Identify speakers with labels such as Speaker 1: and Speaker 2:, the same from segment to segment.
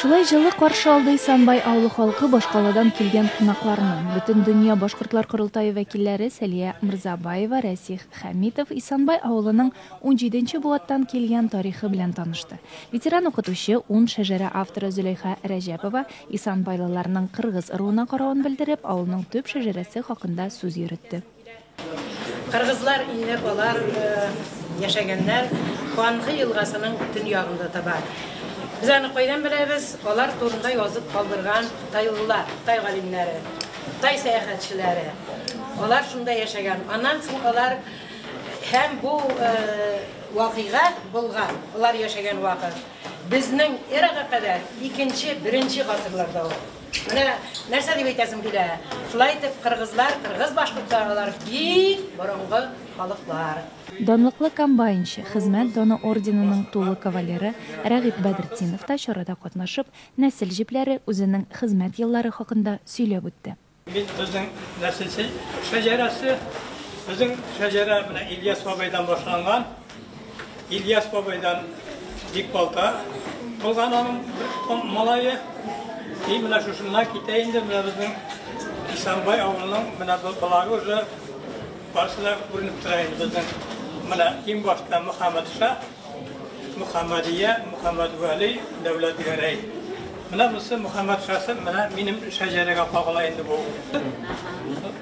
Speaker 1: Шулай җылы каршы алды Исанбай авылы халкы башкаладан килгән кунакларны. Бөтендөнья башкортлар корылтае вәкилләре Сәлия Мырзабаева, Рәсих Хәмитов Исанбай авылының унҗиде нче буаттан килгән тарихы белән танышты. Ветеран-укытучы, Ун шәҗәрә авторы Зөләйха Рәҗәпова исанбайлыларның кыргыз ыруына каравын белдереп, авылның төп шәҗәрәсе хакында сүз йөретте.
Speaker 2: Кыргызлар инде болар яшәгәннәр Куанхы елгасының төньягында таба. Без аны кайдан беләбез? Алар турында язып калдырган тайлылар, тай галимнәре, тай сәяхәтчеләре. Алар шунда яшәгән. Аннан соң алар һәм бу вакыйга булган, алар яшәгән вакыт безнең эрага кадәр икенче, беренче гасырларда ул. Менә нәрсә дип әйтәсем килә. Шулай итеп, кыргызлар, кыргыз-башкортларлар бик борынгы халыклар. Данлыклы
Speaker 1: комбайнчы, Хезмәт доны орденының тулы кавалеры Рәгыйп Бәдретдинов та чарада катнашып, нәсел җепләре, үзенең хезмәт еллары хакында сөйләп үтте. Бит безнең
Speaker 3: нәсел шәҗәрәсе, безнең шәҗәрә менә Ильяс бабайдан башланган. Ильяс бабайдан бик балта кылган аның бер малае. И менә шушыннан китә инде менә безнең Исанбай авылының менә балалары уже барысы да күренеп тора инде безнең. Менә иң башта Мөхәммәдша, Мөхәммәдия, Мөхәммәдвәли, Дәүләтгәрәй. Менә монысы Мөхәммәдшасы, менә минем шәҗәрәгә кагыла инде бу.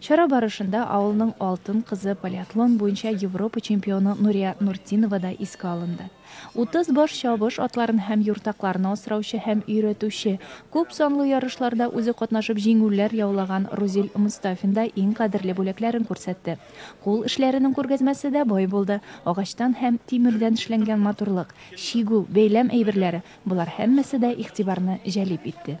Speaker 1: Чара барышында авылның алтын кызы, полиатлон буенча Европа чемпионы Нурия Нуртдинова да искә алынды. Утыз баш чабыш атларын һәм юртакларны асраучы һәм өйрәтүче, күп санлы ярышларда үзе катнашып җиңүләр яулаган Рузил Мостафин да иң кадерле бүләкләрен күрсәтте. Кул эшләренең күргәзмәсе дә бай булды, агачтан һәм тимердән эшләнгән матурлык, чигү, бәйләм әйберләре, болар һәммәсе дә игътибарны җәлеп итте.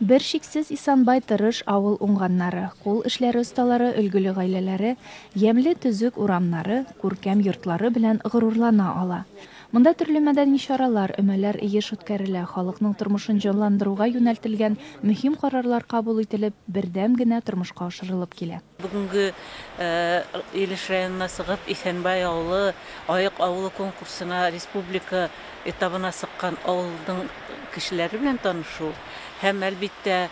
Speaker 1: Бершиксез Исанбай тырыш авыл уңганнары, кул эшләре осталары, өлгеле гаиләләре, ямьле төзек урамнары, күркәм йортлары белән горурлана ала. Монда төрле мәдәни чаралар, өмәләр еш үткәрелә, халыкның тормышын җанландыруга юнәлтелгән мөһим карарлар кабул ителеп, бердәм генә тормышка ашырылып килә. Бүгенге
Speaker 2: Илеш районына сыгып, Исәнбай авылы Аек авылы конкурсына республика этабына сыккан авылның кешеләре белән танышу һәм, әлбиттә,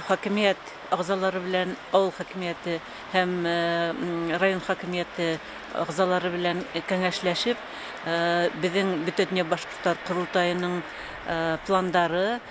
Speaker 2: хакимият әгъзалары белән, авыл хакимияте һәм район хакимияте әгъзалары белән кәңәшләшеп, безнең Бөтендөнья башкортлар корылтаеның пландары,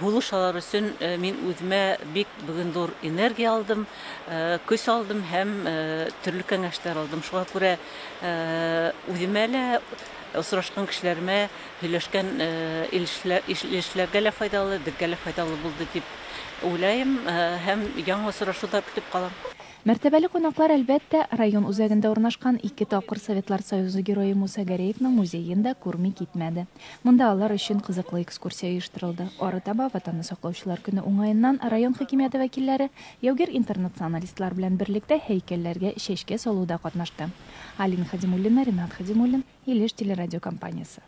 Speaker 2: Һулыш алар өчен мин үземә бик бүген зур энергия алдым, көч алдым һәм төрле кәңәшләр алдым. Шуңа күрә үземә лә, осрашкан кешеләремә, һөйләшкән ишләргә лә файдалы, безгә лә файдалы булды дип уйлыйм һәм яңа осрашуда көтеп калам. Мәртәбәле
Speaker 1: кунаклар, әлбәттә, район үзәгендә урнашкан ике тапкыр Советлар Союзы Герое Муса Гәрәевның музеен да күрми китмәде. Монда алар өчен кызыклы экскурсия оештырылды. Арытаба Ватанны саклаучылар көне уңаеннан район хакимияте вәкилләре яугир интернационалистлар белән берлектә һәйкәлләргә чәчкә салуда катнашты. Алина Хадимуллина, Ринат Хадимуллин, Илеш телерадиокомпаниясе.